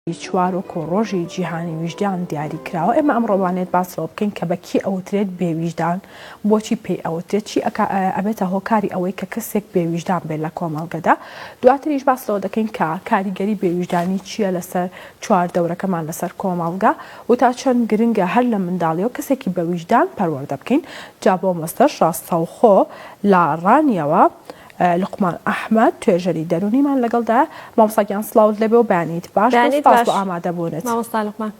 چوارۆکۆ ڕۆژی جیهانی ویژدان دیاری کراوە ئێمە ئەم ڕۆوانێت باس لەوە بکەین کە بە کێ ئەوترێت بێ ویژدان بۆچی پێی ئەوترێت چی ئەبێتە هۆکاری ئەوەی کە کەسێک بێ ویژدان بێت لە کۆمەڵگەدا دواتریش باس لەوە دەکەین کە کاریگەری بێ ویژدانی چییە لەسەر چوار دەورەکەمان لەسەر کۆمەڵگە و تا چەند گرنگە هەر لە منداڵیەوە کەسێکی بە ویژدان پەروەردە بکەین جا بۆ مەستەش ڕاستەوخۆ لە ڕانیەوە لوقمان ئەحمەد توێژەری دەرونیمان لەگەڵدایە مامۆستا گیان سڵاوت لێبێ و بەیانیت باش بێ سوپاس بۆ ئامادەبونت مامۆستا لوقمان.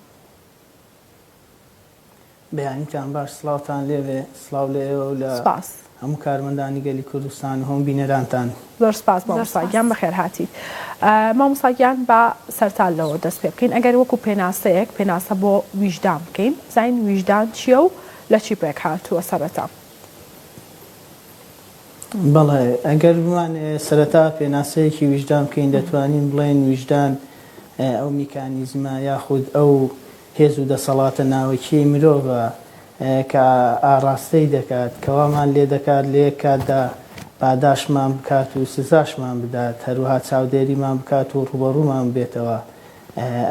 بەیانیتان باش سڵاوتان لێبێ سڵاو لە ئێوە و لە سوپاس. هەموو کارمەندانی گەلی کوردستان و هەموو بینەرانتان. زۆر سوپاس مامۆستا گیان بەخێر هاتیت مامۆستا گیان با سەرتا لەوە دەست پێ بکەین ئەگەر وەکو پێناسەیەک پێناسە بۆ ویژدان بکەین بزانین ویژدان چیە و لە چی پێک هاتووە سەرەتا. بەڵێ، ئەگەر بمانەوێت سەرەتا پێناسەیەکی ویژدان بکەین، دەتوانین بڵێین ویژدان ئەو میکانیزمە یاخود ئەو هێز و دەسەڵاتە ناوەکییەی مرۆڤە کە ئاڕاستەی دەکات، کە وامان لێ دەکات لە یەک کاتدا پاداشتمان بکات و سزاشمان بدات، هەروەها چاودێریمان بکات و ڕووبەڕوومان ببێتەوە.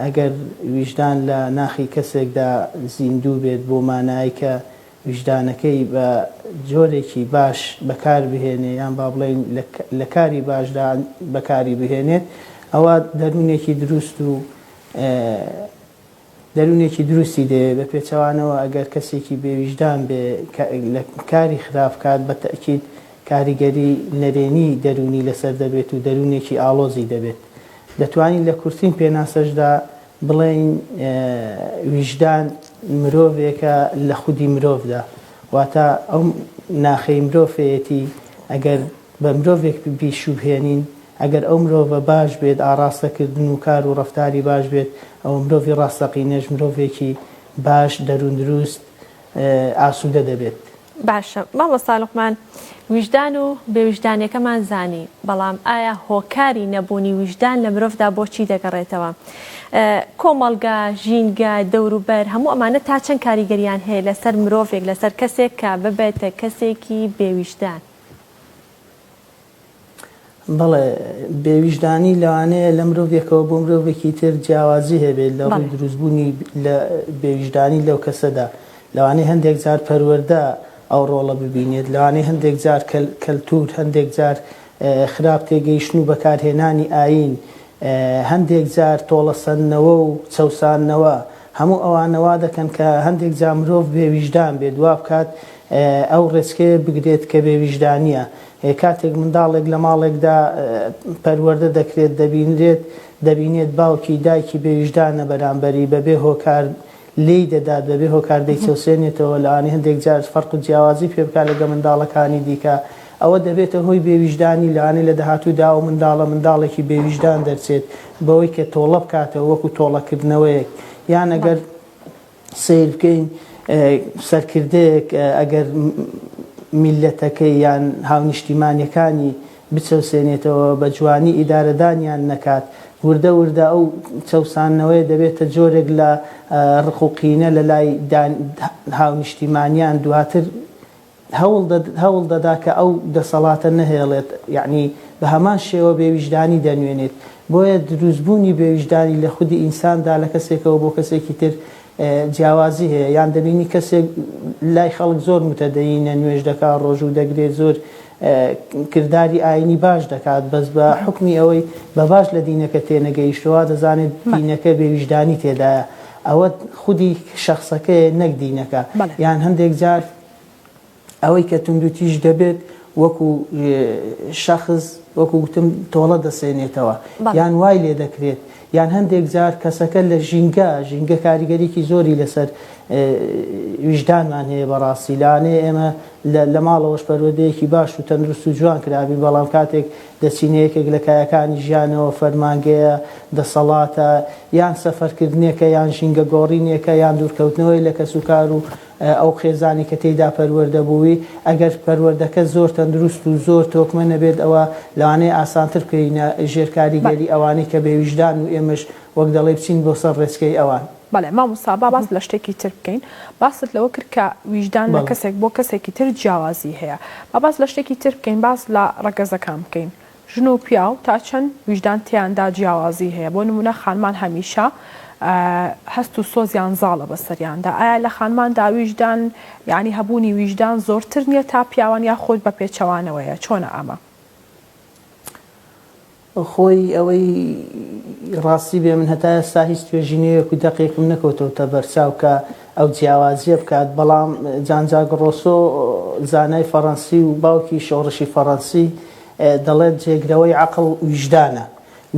ئەگەر ویژدان لە ناخی کەسێکدا زیندوو بێت بۆ مانایەک کە، ویژدانەکەی بە جۆرێکی باش بەکار بهێنێ یان با بڵێین لە کاری باشدا بەکاری بهێنێت ئەوە دەروونێکی دروست و دەروونێکی دروستی دەوێت بە پێچەوانەوە ئەگەر کەسێکی بێویژدان بێ لە کاری خراپ کات بە تەکیید کاریگەری نەرێنی دەروونی لەسەر دەبێت و دەروونێکی ئاڵۆزی دەبێت دەتوانین لە کورتین پێناسەشدا بڵێین ویژدان مرۆڤێکە لە خودی مرۆڤدا، واتە ئەو ناخەی مرۆڤەیەتی ئەگەر بە مرۆڤێک بیشوبهێنین، ئەگەر ئەو مرۆڤە باش بێت، ئاڕاستەکردن و کار و ڕەفتاری باش بێت، ئەوە مرۆڤی ڕاستەقینەش مرۆڤێکی باش، دەرووندروست، ئاسوودە دەبێت. باشە مامۆستا لوقمان ویژدان و بێ ویژدانیەکەمان زانی بەڵام ئایا هۆکاری نەبوونی ویژدان لە مرۆڤدا بۆ چی دەگەڕێتەوە؟ کۆمەڵگا، ژینگە، دەوروبەر هەموو ئەمانە تا چەند کاریگەریان هەیە لەسەر مرۆڤێک لەسەر کەسێک کە ببێتە کەسێکی بێ ویژدان؟ بەڵێ بێویژدانی لەوانەیە لە مرۆڤێکەوە بۆ مرۆڤێکی تر جیاوازی هەبێت لە ڕووی دروستبوونی لە بێویژدانی لەو کەسەدا لەوانەیە هەندێک جار پەروەردە ئەو ڕۆڵە ببینێت لەوانەیە هەندێک جار کەلتور هەندێک جار خراپ تێگەیشتن و بەکارهێنانی ئاین هەندێک جار تۆڵەسەندنەوە و چەوساندنەوە هەموو ئەوانە وا دەکەن کە هەندێک جا مرۆڤ بێویژدان بێت وا بکات ئەو ڕێچکەیە بگرێت کە بێویژدانییە کاتێک منداڵێک لە ماڵێکدا پەروەردە دەکرێت، دەبینرێت، دەبینێت باوکی، دایکی بێ ویژدانە بەرامبەری، بەبێ هۆکار لێی دەدات، بەبێ هۆکار دەیچەوسێنێتەوە، لەوانەیە هەندێک جار فەرق و جیاوازی پێ بکات لەگەڵ منداڵەکانی دیکە، ئەوە دەبێتە هۆی بێ ویژدانی، لەوانەیە لە داهاتوودا ئەو منداڵە منداڵێکی بێ ویژدان دەرچێت، بەوەی کە تۆڵە بکاتەوە وەکو تۆڵەکردنەوەیەک، یان ئەگەر. سەیر بکەین سەرکردەیەک ئەگەر میللەتەکەی یان هاونیشتیمانیەکانی بچەوسێنێتەوە بە جوانی ئیدارەدانیان نەکات وردە وردە ئەو چەوساندنەوەیە دەبێتە جۆرێک لە ڕق و قینە لەلای هاونیشتیمانیان دواتر هەوڵ دەدا کە ئەو دەسەڵاتە نەهێڵێت، یەعنی بە هەمان شێوە بێویژدانی دەنوێنێت. بۆیە دروستبوونی بێویژدانی لە خودی ئینساندا لە کەسێکەوە بۆ کەسێکی تر جیاوازی هەیە، یان دەبینی کەسێک لای خەڵک زۆر موتەدەینە، نوێژ دەکات، ڕۆژوو دەگرێت، زۆر کرداری ئایینی باش دەکات، بەس بە حوکمی ئەوەی بە باش لە دینەکە تێنەگەیشتووە، وا دەزانێت دینەکە بێویژدانی تێدایە. ئەوە خودی شەخسەکەیە نەک دینەکە بەڵێ. یان هەندێک جار ئەوەی کە توندوتیژ دەبێت وەکو شەخص وەکو گوتم تۆڵە دەسێنێتەوە بەڵێ. یان وای لێ دەکرێت یان هەندێک جار کەسەکە لە ژینگە ژینگە کاریگەریکی زۆری لەسەر اه، ویژدانمان هەیە بەڕاستی لەوانەیە ئێمە لە لە ماڵەوەش پەروەردەیەکی باش و تەندروست و جوان کرابین بەڵام کاتێک دەچینە یەکێک لە کایەکانی ژیانەوە، فەرمانگەیە، دەسەڵاتە، یان سەفەرکردنێکە، یان ژینگە گۆڕینێکە، یان دوورکەوتنەوەیە لە کەسوکار و ئەو خێزانەی کە تێیدا پەروەردە بووی، ئەگەر پەروەردەکە زۆر تەندروست و زۆر تۆکمە نەبێت ئەوە لەوانەیە ئاسانتر بکەوینە ژێر کاریگەری ئەوانەی کە بێ ویژدان و ئێمەش وەک دەڵێی بچین بۆ سەر ڕێچکەی ئەوان. بەڵێ مامۆستا با باس لە شتێکی تر بکەین باست لەوە کرد کە ویژدان لە کەسێک بۆ کەسێکی تر جیاوازی هەیە با باس لە شتێکی تر بکەین باس لە ڕەگەزەکان بکەین ژن و پیاو تا چەند ویژدان تێیاندا جیاوازی هەیە بۆ نمونە خانمان هەمیشە هەست و سۆزیان زاڵە بەسەریاندا ئایا لە خانماندا ویژدان یعنی هەبوونی ویژدان زۆرتر نییە تا پیاوان یا خۆت بە پێچەوانەوەیە چۆنە ئەمە خۆی ئەوەی ڕاستی بێ من هەتا ئێستا هیچ توێژینەوەیەک و دەقێکم نەکەوتەوتە بەرچاو کە ئەو جیاوازیە بکات بەڵام جان جاک ڕۆسۆ زانای فەڕەنسی و باوکی شۆڕشی فەڕەنسی دەڵێت جێگرەوەی عەقڵ ویژدانە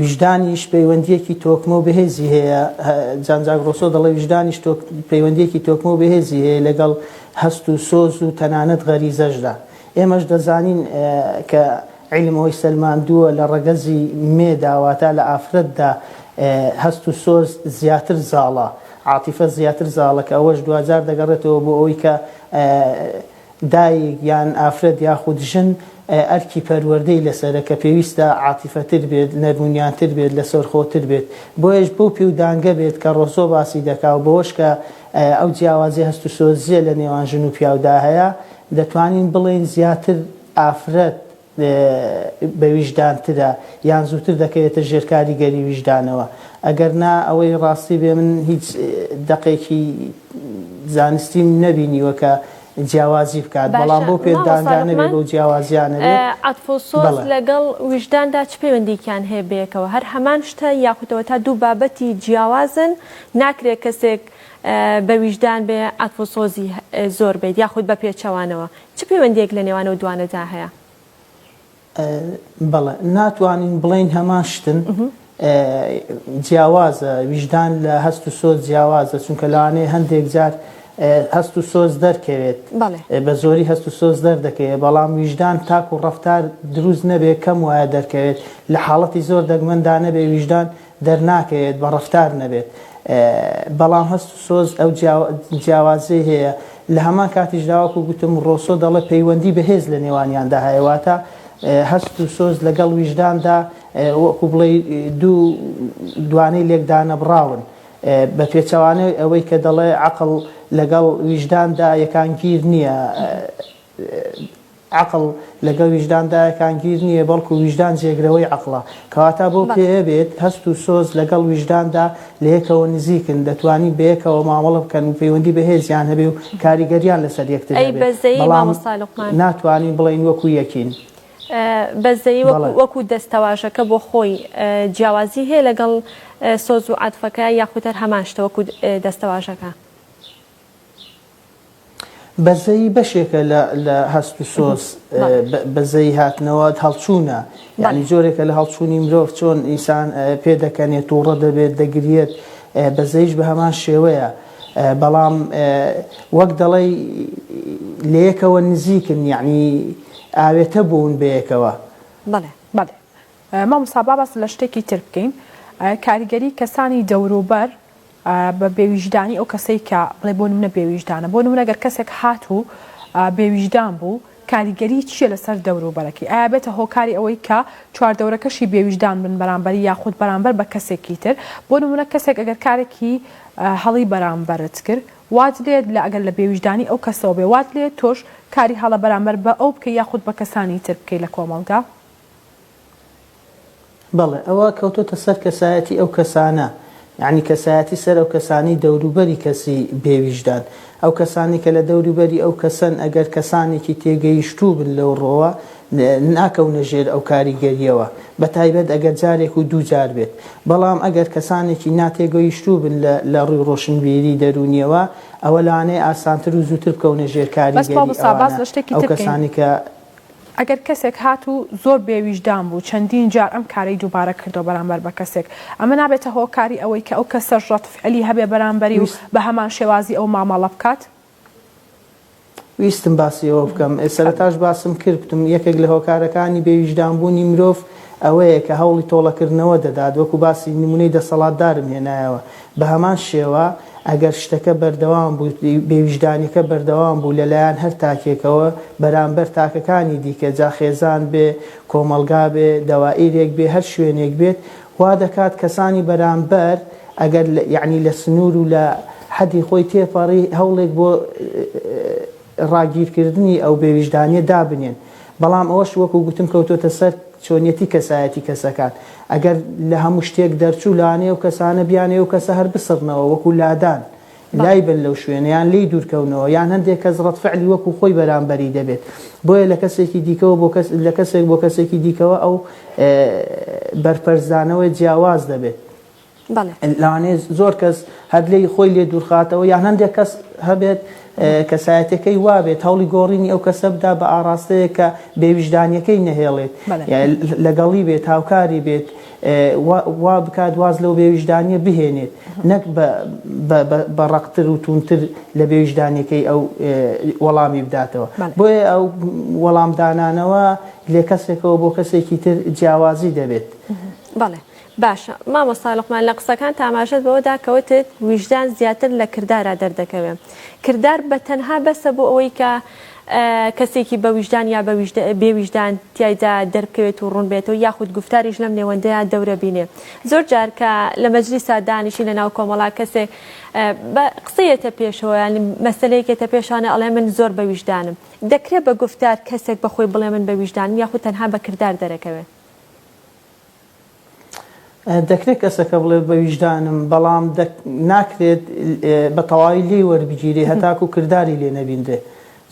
ویژدانیش پەیوەندیەکی تۆکمە و بەهێزی هەیە جان جاک ڕۆسۆ دەڵێ ویژدانیش پەیوەندیەکی تۆکمە و بەهێزی هەیە لەگەڵ هەست و سۆز و تەنانەت غەریزەشدا ئێمەش دەزانین کە عیلم ئەوەی سەلماندووە لە ڕەگەزی مێدا واتە لە ئافرەتدا هەست و سۆز زیاتر زاڵە، عاتیفە زیاتر زاڵە کە ئەوەش دواجار دەگەڕێتەوە بۆ ئەوەی کە دایک یان ئافرەت یاخود ژن ئەرکی پەروەردەی لەسەرە کە پێویستە عاتیفەتر بێت، نەرمونیانتر بێت، لەسەرخۆتر بێت. بۆیەش بەو پێودانگە بێت کە ڕۆسۆ باسی دەکا و بەوەش کە ئەو جیاوازی هەست و سۆزییە لە نێوان ژن و پیاودا هەیە دەتوانین بڵێین زیاتر ئافرەت بە ویژدان ترە یان زووتر دەکەوێتە ژێر کاریگەری ویژدانەوە ئەگەر نا ئەوەی ڕاستی بێ من هیچ دەقێکی زانستیم نەبینیوە کە جیاوازی بکات بەڵام بۆ پێ دانگانە بێ بەو جیاوازیانە بێ عەتف و سۆز لەگەڵ ویژداندا چ پەیوەندیکیان هەیە بەیەکەوە هەر هەمان شتە یاخوتەوە تا دوو بابەتی جیاوازن ناکرێ کەسێک بە ویژدان بێ عەتف و سۆزی زۆر بیت یاخود بە پێچەوانەوە چ پەیوەندییەک لە نێوان ئەو دوانەدا هەیە؟ بەڵێ، ناتوانین بڵێین هەمان شتن، جیاوازە، ویژدان لە هەست و سۆز جیاوازە، چونکە لەوانەیە هەندێک جار هەست و سۆز دەرکەوێت، بە زۆری هەست و سۆز دەردەکەوێت، بەڵام ویژدان تاکو ڕەفتار دروست نەبێت کەم وایە دەرکەوێت، لە حاڵەتی زۆر دەگمەندا نەبێت ویژدان دەرناکەوێت بە ڕەفتار نەبێت بەڵام هەست و سۆز ئەو جیاوازی هەیە لە هەمان کاتیشدا وەکو گوتم ڕۆسۆ دەڵێ پەیوەندی بەهێز لە نێوانیاندا هەیە واتە هەست و سۆز لەگەڵ ویژداندا وەکو بڵێ دوو دوانەی لێکدانە بڕاون بە پێچەوانەوەی ئەوەی کە دەڵێ عقل لەگەڵ ویژداندا یەکانگیر نییە عەقڵ لەگەڵ ویژداندا یەکانگیر نییە، بەڵکو ویژدان جێگرەوەی عەقڵە. کەواتە بەو بەڵێ. پێیە بێت هەست و سۆز لەگەڵ ویژداندا لە یەکەوە نزیکن، دەتوانین بە یەکەوە مامەڵە بکەن و پەیوەندی بەهێزیان هەبێ و کاریگەریان لەسەر یەکتر ئەی هەبێ، بەزەیی بەڵام مامۆستا لوقمان؟ ناتوانین بڵێین وەکو یەکین. بەزەیی وەکو بەڵێ. وەکو دەستەواژەکە بۆ خۆی جیاوازی هەیە لەگەڵ سۆز و عەتفەکە یاخود هەر هەمان شتە وەکو دەستەواژەکە؟ بەزەیی بەشێکە لە لە هەست و سۆز بەزەیی هاتنەوە هەڵچوونە یعنی جۆرێکە لە هەڵچوونی مرۆڤ چۆن ئینسان پێ دەکەنێت تووڕە دەبێت دەگرێت بەزەیش بە هەمان شێوەیە بەڵام وەک دەڵی لەیەکەوە نزیکن یعنی ئاوێتە بوون بەیەکەوە بەڵێ بەڵێ مامۆستا با باس لە شتێکی تر بکەین کاریگەری کەسانی دەوروبەر بە بێویژدانی ئەو کەسەی کە بڵێ بۆ نمونە بێویژدانە بۆ نمونە گەر کەسێک هات و بێویژدان بوو کاریگەری چییە لەسەر دەوروبەرەکەی ئایا بێتە هۆکاری ئەوەی کە چواردەورەکەشی بێویژدان بن بەرامبەری یاخود بەرامبەر بە کەسێکی تر بۆ نمونە کەسێک ئەگەر کارێکی هەڵی بەرامبەرت کرد وات لێت لە ئەگەر لە بێویژدانی ئەو کەسەوە بێ وات لێت تۆش کاری هەڵە بەرامبەر بە ئەو بکەی یاخود بە کەسانی تر بکەی لە کۆمەڵگا. بەڵێ ئەوە کەوتۆتە سەر کەسایەتی ئەو کەسانە یانی کەسایەتی سەر ئەو کەسانی دەوروبەری کەسی بێ ویژدان ئەو کەسانی کە لە دەوروبەری ئەو کەسەن ئەگەر کەسانێکی تێگەیشتوو بن لەو ڕۆوە ناکەونە ژێر ئەو کاریگەریەوە بە تایبەت ئەگەر جارێک و دوو جار بێت بەڵام ئەگەر کەسانێکی ناتێگەیشتوو بن لە لە ڕووی ڕۆشنبیری دەرونیەوە ئەوە لەوانەیە ئاسانتر و زووتر بکەونە ژێر کاریگەری ئەوانە ئەو کەسانی کە ئەگەر کەسێک هات و زۆر بێ ویژدان بوو چەندین جار ئەم کارەی دووبارە کردووە بەرامبەر بە کەسێک ئەمە نابێتە هۆکاری ئەوەی کە ئەو کەسەش ڕەد فعلی هەبێ بەرامبەری و بە هەمان شێوازی ئەو مامەڵە بکات؟ ویستم باسی ئەوە بکەم سەرەتاش باسم کرد گوتم یەکێک لە هۆکارەکانی بێ ویژدان بوونی مرۆڤ ئەوەیە کە هەوڵی تۆڵەکردنەوە دەدات وەکو باسی نمونەی دەسەڵاتدارم هێنایەوە بە هەمان شێوە ئەگەر شتەکە بەردەوام بوو، بێویژدانیەکە بەردەوام بوو لە لایەن هەر تاکێکەوە بەرامبەر تاکەکانی دیکە، جا خێزان بێ، کۆمەڵگا بێ، دەوائیرێک بێ، هەر شوێنێک بێت، وا دەکات کەسانی بەرامبەر ئەگەر یەعنی لە سنوور و لە حەدی خۆی تێپەڕی هەوڵێک بۆ، ڕاگیرکردنی ئەو بێویژدانیە دابنێن، بەڵام ئەوەش وەکو گوتم کەوتۆتە سەر چۆنیەتی کەسایەتی کەسەکان، ئەگەر لە هەموو شتێک دەرچوو لەوانەیە ئەو کەسانە بیانەوێت ئەو کەسە هەر بسڕنەوە وەکو لادان لای بەن لەو شوێنە یان لێی دوورکەونەوە یان هەندێک کەس ڕەدفعلی وەکو خۆی بەرامبەری دەبێت بۆیە لە کەسێکی دیکەوە بۆ کەس لە کەسێک بۆ کەسێکی دیکەوە ئەو بەرپەرچدانەوەی جیاواز دەبێت. بەڵێ. لەوانەیە زۆر کەس هەر لێی خۆی لێ دوورخاتەوە یان هەندێک کەس هەبێت کەسایەتەکەی وابێت هەوڵی گۆڕینی ئەو کەسە بدا بە ئاراستەیە کە بێویژدانیەکەی نەهێڵێت لەگەڵی بێت هاوکاری بێت وا بکات واز لەو بێویژدانیە بهێنێت نەک بە ڕقتر و تونتر لە بێویژدانەکەی ئەو وەڵامی بداتەوە بۆیە ئەو وەڵامدانانەوە لێ کەسێکەوە بۆ کەسێکی تر جیاوازی دەبێت. بەڵێ باشە مامۆستا لوقمان لە قسەکانت ئاماژەت بەوە دا کە وتت ویژدان زیاتر لە کردارا دەردەکەوێ کردار بە تەنها بەسە بۆ ئەوەی کە کەسێکی بە ویژدان یا بێ ویژدان تیایدا دەربکەوێت و ڕوون بێتەوە یاخود گوفتاریش لەم نێوەندەیا دەورە بینێ زۆر جار کە لە مەجلیسا دانیشین لە ناو کۆمەڵا کەسێک بە قسەیەتە پێشەوە یانی مەسەلەیەکێتە پێشانە ئەڵێ من زۆر بە ویژدانم دەکرێ بە گوفتار کەسێک بە خۆی بڵێ من بە ویژدانم یاخود تەنها بە کردار دەرەکەوێ؟ دەکرێت کەسەکە بڵێت بە ویژدانم بەڵام ناکرێت بە تەواوی لێی وەربگیری هەتاکو کردداری لێ نەبیندێ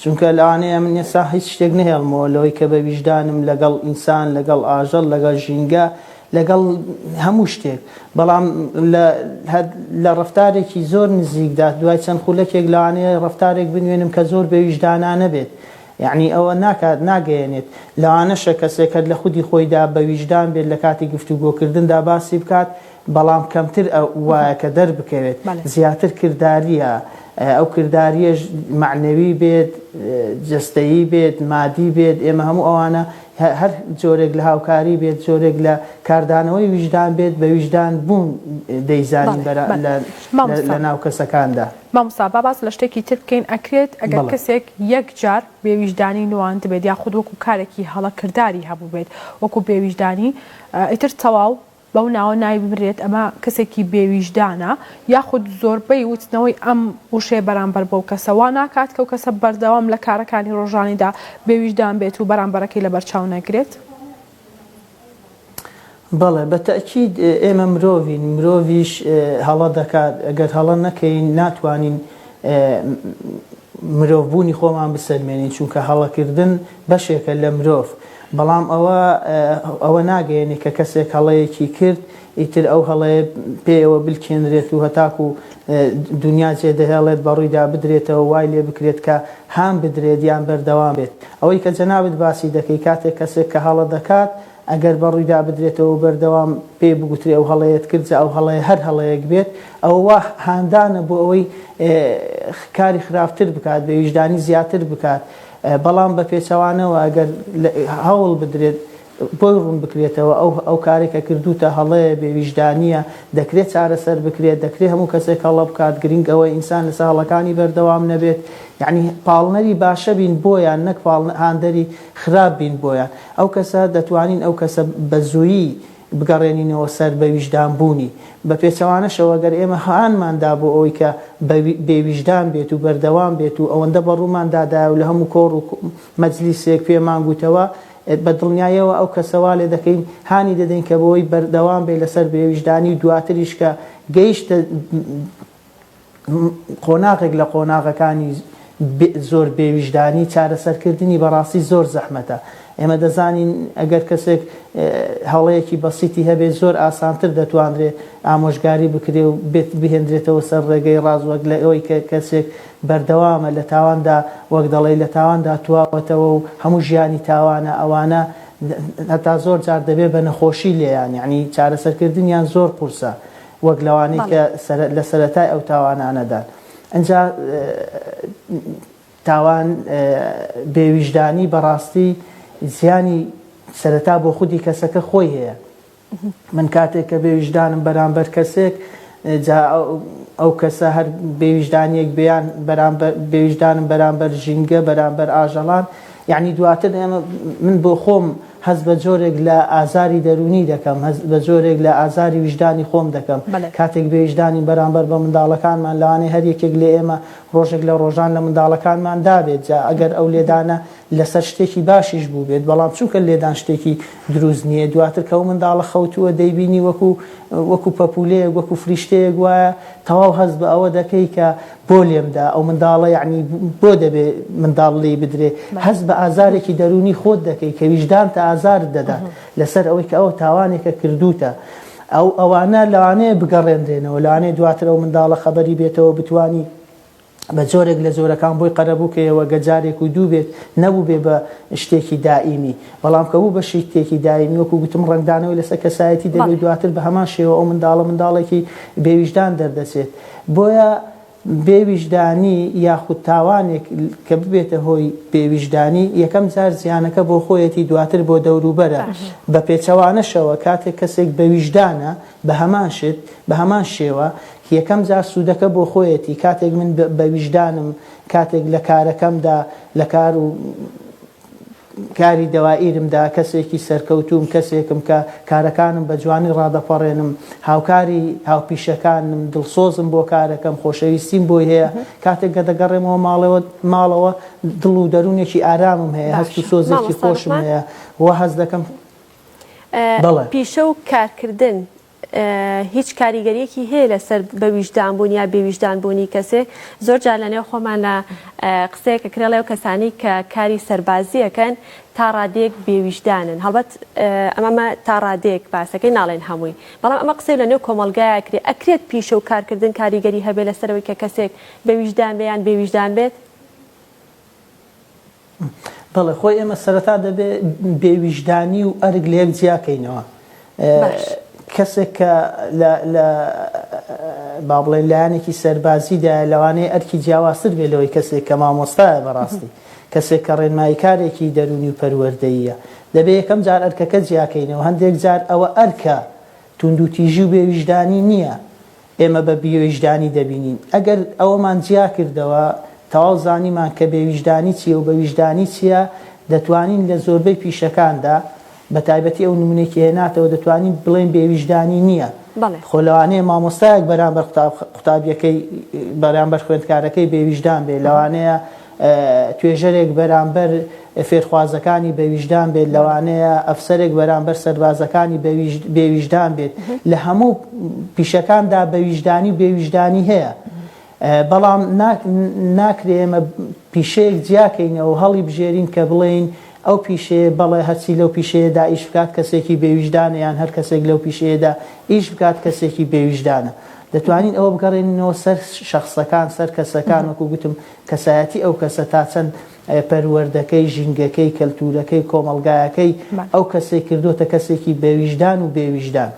چونکە لەوانەیە من ئێسا هیچ شتێک نهێڵمەوە لەوەی کە بە ویژدانم لەگەڵ ئینسان لەگەڵ ئاژەڵ لەگەڵ ژینگە لەگەڵ هەموو شتێک بەڵام لە ڕفتارێکی زۆر نزیکدا دوای چەند خولەکێک لەوانەیە ڕفتارێک بنوێنم کە زۆر بە ویژدانانە بێت یەعنی ئەوە ناکات ناگەیەنێت، لەوانەشە کەسێک هەر لە خودی خۆیدا بە ویژدان بێت لە کاتی گفتوگۆکردندا باسی بکات، بەڵام کەمتر وایە کە دەربکەوێت، زیاتر کردارییە، ئەو کردارییەش مەعنەوی بێت، جەستەیی بێت، مادی بێت، ئێمە هەموو ئەوانە هەر جۆرێک لە هاوکاری بێت، جۆرێک لە کاردانەوەی ویژدان بێت، بە ویژدان بوون دەیزانین لە ناو کەسەکاندا. مامۆستا با باس لە شتێکی تر بکەین ئەکرێت ئەگەر بەڵێ. کەسێک یەک جار بێویژدانی نواندبێت یاخود وەکو کارێکی هەڵە کرداری هەبوبێت وەکو بێویژدانی ئیتر تەواو بەو ناوە ناوی ببرێت ئەمە کەسێکی بێویژدانە یاخود زۆربەی وتنەوەی ئەم وشەیە بەرامبەر بەو کەسە وا ناکات کەو کەسە بەردەوام لە کارەکانی ڕۆژانیدا بێویژدان بێت و بەرامبەرەکەی لەبەرچاو نەگرێت؟ بەڵێ بە تەئکید ئێمە مرۆڤین مرۆڤیش هەڵە دەکات گەر هەڵە نەکەین ناتوانین مرۆڤ بوونی خۆمان بسەلمێنین چونکە هەڵەکردن بەشێکە لە مرۆڤ بەڵام ئەوە ئەوە ناگەێنێ کە کەسێک هەڵەیەکی کرد ئیتر ئەو هەڵەیە پێیەوە بلکێنرێت و هەتاکوو دونیا جێدەهێڵێت بە ڕوویدا بدرێتەوە، وای لێ بکرێت کە هان بدرێت یان بەردەوام بێت. ئەوەی کە جەنابت باسی دەکەی کاتێک کەسێک کە هەڵە دەکات ئەگەر بە ڕوویدا بدرێتەوە و بەردەوام پێی بگوترێ ئەو هەڵەیەت کرد جا ئەو هەڵەیە هەر هەڵەیەک بێت ئەوە وا هاندانە بۆ ئەوەی کاری خراپتر بکات بێ ویژدانی زیاتر بکات بەڵام بە پێچەوانەوە ئەگەر هەوڵ بدرێت بۆی ڕوون بکرێتەوە ئەو ئەو کارەی کە کردووتە هەڵەیە، بێ ویژدانییە، دەکرێت چارەسەر بکرێت، دەکرێت هەموو کەسێک هەڵە بکات، گرینگ ئەوەیە ئینسان لەسەر هەڵەکانی بەردەوام نەبێت، یانی پاڵنەری باشە بین بۆیان نەک پاڵ هاندەری خراپ بین بۆیان، ئەو کەسە دەتوانین ئەو کەسە بە زوویی بگەڕێنینەوە سەر بە ویژدان بوونی، بە پێچەوانەشەوە گەر ئێمە هانمان دا بۆ ئەوەی کە بە بێ ویژدان بێت و بەردەوام بێت و ئەوەندە بە ڕوومان دادایە و لە هەموو کۆڕ و مەجلیسێک پێمان گووتەوە بە دڵنیایەوە ئەو کەسە وا لێ دەکەین، هانی دەدەین کە بەوەی بەردەوام بێت لەسەر بێویژدانی و دواتریش کە گەیشتە قۆناغێک لە قۆناغەکانی زۆر بێویژدانی، چارەسەرکردنی بەڕاستی زۆر زەحمەتە. ئێمە دەزانین ئەگەر کەسێک هەڵەیەکی بەسیتی هەبێت زۆر ئاسانتر دەتوانرێت ئامۆژگاری بکرێت و بێت بهێندرێتەوە سەر ڕێگەی ڕاست وەک لە ئەوەی کە کەسێک بەردەوامە لە تاواندا وەک دەڵێی لە تاواندا تواوەتەوە و هەموو ژیانی تاوانە ئەوانە هەتا زۆر جار دەبێ بە نەخۆشی لێیان یانی چارەسەرکردنیان زۆر قورسە وەک لەوانەی کە لە سەرەتای ئەو تاوانانەدان ئەجا تاوان بێویژدانی بەڕاستی زیانی سەرەتا بۆ خودی کەسەکە خۆی هەیە. من کاتێک کە بێ ویژدانم بەرامبەر کەسێک جا ئەو کەسە هەر بێ ویژدانیەک بیان بەرامبەر بێ ویژدانم بەرامبەر ژینگە بەرامبەر ئاژەڵان یعنی دواتر ئێمە من بۆ خۆم هەز بە جۆرێک لە ئازاری دەرونی دەکەم هەز بە جۆرێک لە ئازاری ویژدانی خۆم دەکەم بەلێ. کاتێک بێ ویژدانین بەرامبەر بە منداڵەکانمان لەوانەیە هەر یەکێک لە ئێمە ڕۆژێک لە ڕۆژان لە منداڵەکانمان دابێت جا ئەگەر ئەو لێدانە لەسەر شتێکی باشیش بووبێت بەڵام چونکە لێدان شتێکی دروست نییە دواتر کە ئەو منداڵە خەوتووە دەیبینی وەکو وەکو پەپولەیەک وەکو فریشتەیەک وایە تەواو هەست بە ئەوە دەکەی کە بۆ لێمدا ئەو منداڵە یعنی بۆ دەبێ منداڵ لێی بدرێ هەست بە ئازارێکی دەروونی خۆت دەکەی کە ویژدانتە ئازارت دەدات لەسەر ئەوەی کە ئەو تاوانێکە کردوتە ئەو ئەوانە لەوانەیە بگەڕێنرێنەوە لەوانەیە دواتر ئەو منداڵە خەبەری بێتەوە بتوانی بە جۆرێک لە جۆرەکان بۆی قەرەبوو کە یەوەگە جارێک و دوو بێت نەبوو بێ بە شتێکی دائیمی بەڵام کە بوو بە شیتێکی دایمی وەکو گوتم ڕەنگدانەوەی لەسەر کەسایەتی دەبێت بەڵێ دواتر بە هەمان شێوە ئەو منداڵە منداڵێکی بێویژدان دەردەچێت بۆیە بێویژدانی یاخود تاوانێک کە ببێتە هۆی بێویژدانی یەکەم جار زیانەکە بۆ خۆیەتی دواتر بۆ دەوروبەرە باش بە پێچەوانەشەوە کاتێک کەسێک بەویژدانە بە هەمان شت، بە هەمان شێوە، یەکەم جار سوودەکە بۆ خۆیەتی، کاتێک من بە ویژدانم، کاتێک لە کارەکەمدا، لە کار و کاری دەوائیرمدا کەسێکی سەرکەوتووم، کەسێکم کە کارەکانم بە جوانی ڕادەپەڕێنم، هاوکاری هاوپیشەکانم، دڵسۆزم بۆ کارەکەم، خۆشەویستیم بۆی هەیە، کاتێک کە دەگەڕێمەوە ماڵەوە، ماڵەوە دڵ و دەروونێکی ئارامم هەیە، هەست و سۆزێکی خۆشم هەیە و هەست دەکەم. پیشە و کارکردن هیچ کاریگەریەکی هەیە لەسەر بە ویژدان بوون یا بێویژدان بوونی کەسێ زۆر جار لە نێو خۆمان لە قسەیەکە کرێ لەو کەسانی کە کاری سەربازیەکەن تا ڕادێک بێویژدانن هەڵبەت ئەمەمە تا ڕادێک باسەکەی ناڵێن هەمووی بەڵام ئەمە قسەی لە نێو کۆمەلگایە کرێ ئەکرێت پیشە و کارکردن کاریگەری هەبێ لەسەرەوەی کە کەسێک بە ویژدان بێ یان بێویژدان بێت بەڵێ خۆی ئێمە سەرەتا دەبێ بێ ویژدانی و ئەرک لە یەک جیا کەینەوە کەسێک کە لە با بڵێ لایەنێکی سەربازیدا لەوانەیە ئەرکی جیاوازتر بێ لەوەی کەسێک کە مامۆستایە بەڕاستی کەسێک کە ڕێنماییکارێکی دەرونی و پەروەردەیە دەبێ یەکەم جار ئەرکەکە جیاکەینەوە هەندێک جار ئەوە ئەرکە توندوتیژی و بێویژدانی نییە ئێمە بە بێویژدانی دەبینین. ئەگەر ئەوەمان جیا کردەوە، تەواو زانیمان کە بێویژدانی چییە و بە ویژدانی چییە، دەتوانین لە زۆربەی پیشەکاندا، بە تایبەتی ئەو نمونەی کە هێناتەوە، دەتوانین بڵێین بێویژدانی نییە. بەڵێ. خۆ لەوانەیە مامۆستایەک بەرامبەر قوتابییەکەی، بەرامبەر خوێندکارەکەی بێویژدان بێت، لەوانەیە توێژەرێک بەرامبەر فێرخوازەکانی بەویژدان بێت لەوانەیە ئەفسەرێک بەرامبەر سەربازەکانی بێویژدان بێت لە هەموو پیشەکاندا بەویژدانی و بێویژدانی هەیە بەڵام ناکرێ ئێمە پیشەیەک جیاکەینەوە هەڵی بژێرین کە بڵێین ئەو پیشەیە بەڵێ هەرچی لەو پیشەیەدا ئیش بکات کەسێکی بێویژدانە یان هەر کەسێک لەو پیشەیەدا ئیش بکات کەسێکی بێویژدانە دەتوانین ئەوە بگەڕێنەوە سەر شخصەکان سەر کەسەکان وەکو گوتم کەسایەتی ئەو کەسە تا چەند پەروەردەکەی، ژینگەکەی، کەلتوورەکەی، کۆمەڵگایەکەی ئەو کەسەی کردۆتە کەسێکی بە ویژدان و بێ ویژدان.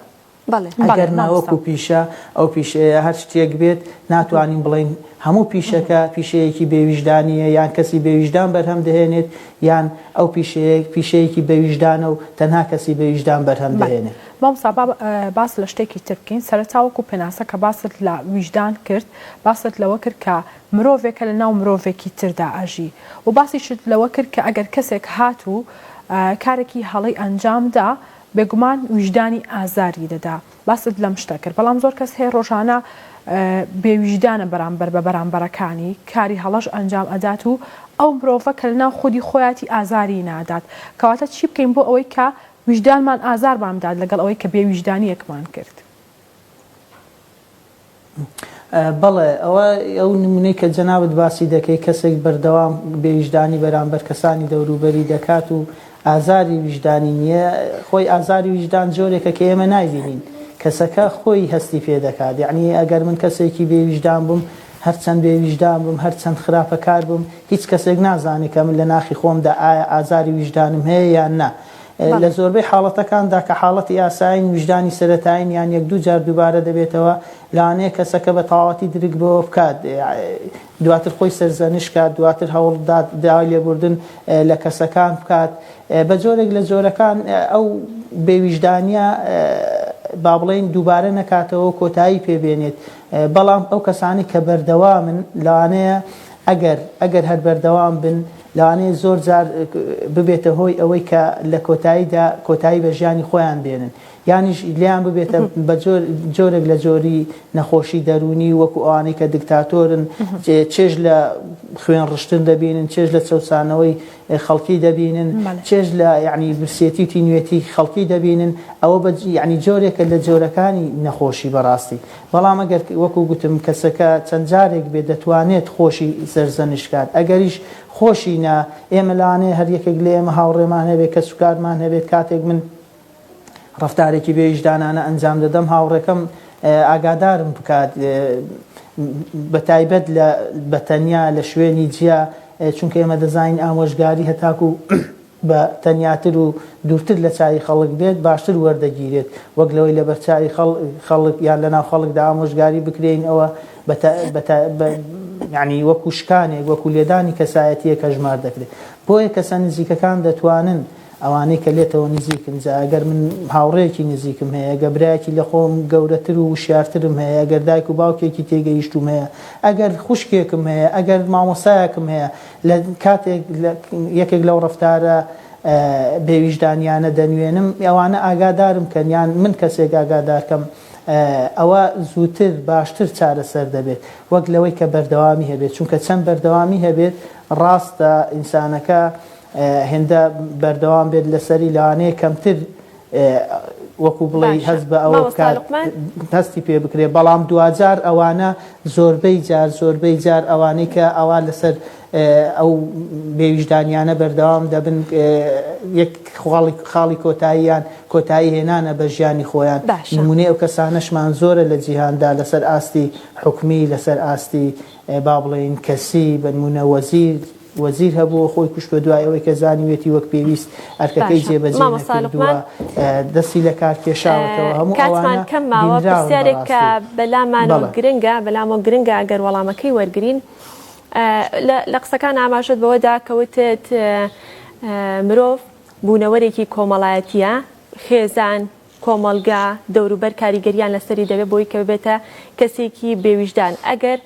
ئەگەر ناوەک و پیشە، ئەو پیشەیە هەر شتێک بێت، ناتوانین بڵێین هەموو پیشەکە پیشەیەکی بێ ویژدانییە یان کەسی بێ ویژدان بەرهەم دەهێنێت یان ئەو پیشەیە پیشەیەکی بە ویژدانە و تەنها کەسی بە ویژدان بەرهەم دەهێنێت. مامۆستا با باس لە شتێکی تر بکەین، سەرەتا وەکو پێناسە کە باست لە ویژدان کرد، باست لەوە کرد کە مرۆڤێکە لە ناو مرۆڤێکی تردا ئەژی و باسیشت لەوە کرد کە ئەگەر کەسێک هات و کارێکی هەڵەی ئەنجامدا بێگومان ویژدانی ئازاری دەدا باست لەم شتە کرد بەڵام زۆر کەس هەیە ڕۆژانە بێ ویژدانە بەرامبەر بە بەرامبەرەکانی کاری هەڵەش ئەنجام ئەدات و ئەو مرۆڤە کە لە ناو خودی خۆیاتی ئازاری نادات کەواتە چی بکەین بۆ ئەوەی کە ویژدانمان ئازارمان بدات لەگەڵ ئەوەی کە بێ ویژدانیەکمان کرد. بەڵێ ئەوە ئەو نمونەی کە جەنابت باسی دەکەی کەسێک بەردەوام بێویژدانی بەرامبەر کەسانی دەوروبەری دەکات و ئازاری ویژدانی نییە خۆی ئازاری ویژدان جۆرێکە کە ئێمە نایبینین کەسەکە خۆی هەستی پێ دەکات یعنی ئەگەر من کەسێکی بێویژدان بووم هەرچەند بێویژدان بم هەرچەند خراپەکار بم هیچ کەسێک نازانێت کە من لە ناخی خۆمدا ئایا ئازاری ویژدانم هەیە یان نا لە زۆربەی حاڵەتەکاندا کە حاڵەتی ئاسایین، ویژدانی سەرەتایین یان یەک دوو جار دووبارە دەبێتەوە، لەوانەیە کەسەکە بە تەواوەتی درک بەوە بکات، دواتر خۆی سەرزەنش کات، دواتر هەوڵبدات داوای لێبوردن لە کەسەکان بکات. بە جۆرێک لە جۆرەکان ئەو بێ ویژدانییە با بڵێین دووبارە نەکاتەوەو کۆتایی پێ بێنێت. بەڵام ئەو کەسانەی کە بەردەوامن لەوانەیە ئەگەر ئەگەر هەر بەردەوام بن، لەوانەیە زۆر جار ببێتە هۆی ئەوەی کە لە کۆتاییدا کۆتایی بە ژیانی خۆیان بێنن یانیش لێیان ببێتە بە جۆرێک لە جۆری نەخۆشی دەروونی وەکو ئەوانەی کە دکتاتۆرن چێژ لە خوێن ڕشتن دەبینن چێژ لە چەوسانەوەی خەڵکی دەبینن چێژ لە یعنی برسێتی و تینوێتی خەڵکی دەبینن ئەوە بە یعنی جۆرێکە لە جۆرەکانی نەخۆشی بەڕاستی بەڵام ئەگەر وەکو گوتم کەسەکە چەند جارێک بێت دەتوانێت خۆشی سەرزەنشت کات ئەگەریش خۆشی نا ئێمە لەوانەیە هەر یەکێک لە ئێمە هاوڕێمان هەبێت کەسوکارمان هەبێت کاتێک من ڕفتارێکی بێ ویژدانانە ئەنجام دەدەم هاوڕێکەم ئاگادارم بکات بە تایبەت لە بەتەنیا لە شوێنی جیا چونکە ئێمە دەزانین ئامۆژگاری هەتاکو بە تەنیاتر و دوورتر لە چاوی خەڵک بێت باشتر وەردەگیرێت وەک لەوەی لەبەر چاوی خەڵک یان لەناو خەڵکدا ئامۆژگاری بکرێین ئەوە یانی وەکو شکانێک وەکو لێدانی کەسایەتیەک هەژمار دەکرێت بۆیە کەسە نزیکەکان دەتوانن ئەوانەی کە لێتەوە نزیکن جا ئەگەر من هاوڕێکی نزیکم هەیە گە برایەکی لە خۆم گەورەتر و وشارترم هەیە ئەگەر دایک و باوکێکی تێگەیشتوم هەیە ئەگەر خوشکێکم هەیە ئەگەر مامۆسایەکم هەیە لە کاتێک یەکێک لەو ڕەفتارە بێ ویژدانیانە دەنوێنم ئەوانە ئاگادارم کەن یان من کەسێک ئاگادار کەم ئەوە زووتر باشتر چارەسەر دەبێت وەک لەوەی کە بەردەوامی هەبێت چونکە چەند بەردەوامی هەبێت ڕاستە ئینسانەکە هێندە بەردەوام بێت لەسەری لەوانەیە کەمتر وەکو بڵێی هەست بە ئەوە بکات هەستی پێ بکرێ بەڵام دواجار ئەوانە زۆربەی جار زۆربەی جار ئەوانەی کە ئەوا لەسەر ئەو بێویژدانیانە بەردەوام دەبن یەک خاڵی کۆتاییان کۆتایی هێنانە بە ژیانی خۆیان نمونێ ئەو کەسانەشمان زۆرە لە جیهاندا لەسەر ئاستی حکومی لەسەر ئاستی با بڵێین کەسی بنمونە وەزیر وەزیر هەبووە خۆی کوشتوە دوای ئەوەی کە زانیوێتی وەک پێویست ئەرکەکەی جێ بە جێ نەکردوە دەستی لە کار کێشاوەتەوە هەموو ئەوانە کەم ماوە پرسیارێک کە بەلامان گرنگە بەلامەوە گرنگە ئەگەر وەڵامەکەی وەرگین لە قسەکان ئاماژەت بەوەدا کەوتت مرۆڤ بوونەوەرێکی کۆمەڵایەتیە خێزان کۆمەڵگا دەوروبەر کاریگەریان لەسەری دەبێت بۆی کە ببێتە کەسێکی بێ ویژدان ئەگەر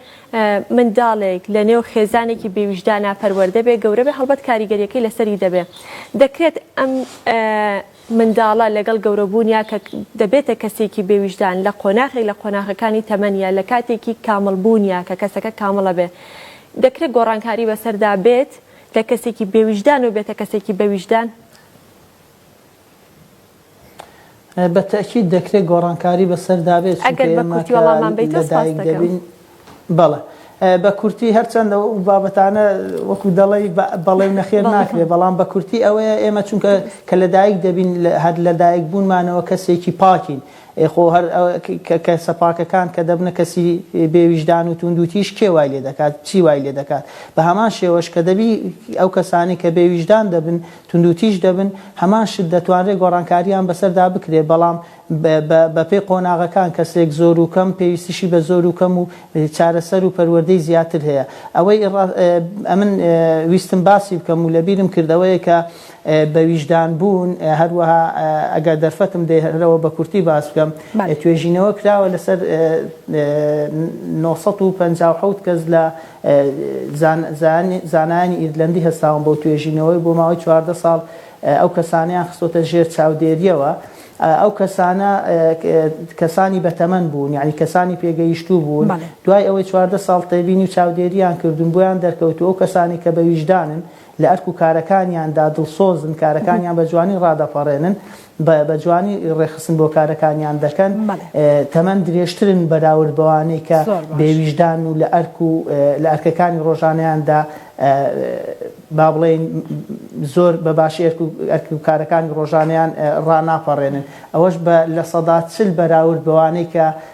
منداڵێک لە نێو خێزانێکی بێ ویژدانا پەروەردە بێ گەورە بێ هەڵبەت کاریگەریەکەی لەسەری دەبێ دەکرێت ئەم منداڵە لەگەڵ گەورەبوونیا کە دەبێتە کەسێکی بێ ویژدان لە قۆناخێک لە قۆناخەکانی تەمەنیا لە کاتێکی کامڵ بوونیا کە کەسەکە کامڵە بێ دەکرێت گۆڕانکاری بەسەردا بێت لە کەسێکی بێ ویژدان و بێتە کەسێکی بە ویژدان بە تەئکید دەکرێت گۆڕانکاری بەسەردا بێت چونکە ئێمە کە لەدایک دەبین بەڵێ بە کورتی هەرچەندە و بابەتانە وەکو دەڵی بەڵێ و نەخێر ناکرێت بەڵام بە کورتی ئەوەیە ئێمە چونکە کە لەدایک دەبین هەر لەدایک بوونمانەوە کەسێکی پاکین خۆ هەر کە سەپاکەکان کە دەبنە کەسی بێویژدان و توند و تیش کێ وای لێ دەکات چی وای لێ دەکات بە هەمان شێوەش کە دەبی ئەو کەسانی کە بێویژدان دەبن توندوتیژ دەبن، هەمان شت دەتوانرێت گۆڕانکارییان بەسەردا بکرێت، بەڵام بەپێی قۆناغەکان، کەسێک زۆر و کەم پێویستیی بە زۆر و کەم و چارەسەر و پەروەردەی زیاتر هەیە. ئەوەی ئەمن ویستم باسی بکەم و لەبیرم کرد ئەوەیە کە بە ویژدان بوون، هەروەها ئەگەر دەرفەتم دەرەوە بە کورتی باس بکەم، توێژینەوە کراوە لەسەر نۆ سەد و پەنجا و حەوت کەس لە، زانایانی ئیرلەندی هەستاون بەو توێژینەوەی و بۆ ماوەی چواردە ساڵ ئەو کەسانەیان خستۆتە ژێر چاودێرییەوە ئەو کەسانە کەسانی بەتەمەن بوون یعنی کەسانی پێگەیشتوو بوون دوای ئەوەی چواردە ساڵ تێبینی و چاودێرییان کردوون بۆیان دەرکەوتوو ئەو کەسانی کە بە ویژدانن لە ئەرک و کارەکانیاندا دڵسۆزن، کارەکانیان بە جوانی ڕادەپەڕێنن، بە جوانی ڕێکخستن بۆ کارەکانیان دەکەن، تەمەن درێژترن بەراورد بەوانەی کە بێویژدان و لە ئەرک و لە ئەرکەکانی ڕۆژانەیاندا با بڵێین زۆر بە باشی ئەرک و ئەرک و کارەکانی ڕۆژانەیان ڕاناپەڕێنن، ئەوەش بە لە سەدا چل بەراورد بەوانەی کە